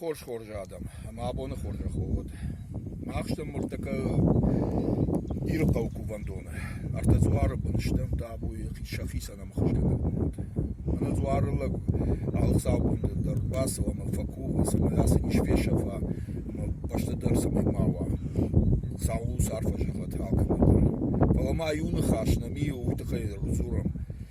Хорз хорз адӕм, ӕмӕ абоны хорзӕх уӕ уӕд. Мах стӕм мыртӕккӕ Иры хъӕуы кувӕндоны. Ӕртӕ дзуары бын стӕм табуйы сӕ хицӕн ӕмхуызгӕнӕг бынат. Мӕнӕ дзуары лӕг алыхцаубоны дӕр бацӕуа ӕмӕ фӕкува, цӕмӕй ацыдис фесӕфа ӕмӕ фӕстӕдӕр цӕмӕй ма уа. Сау ус арфӕ зӕгъӕт алкӕмӕ дӕр. Фӕлӕ ма иу ныхас нӕм и, уый тыххӕй ӕрдзурӕм.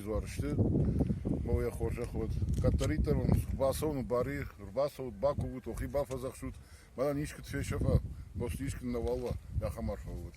изуар сты. Ма йӕ хорзӕх уӕд. Кӕддӕриддӕр уын бацӕуын бари, ӕрбацӕут, бакувут, охи бафӕдзӕхсут, мӕнӕн искуы фесӕфа, хъуыст искуы нӕуал уа, ахӕм арфӕ уӕд.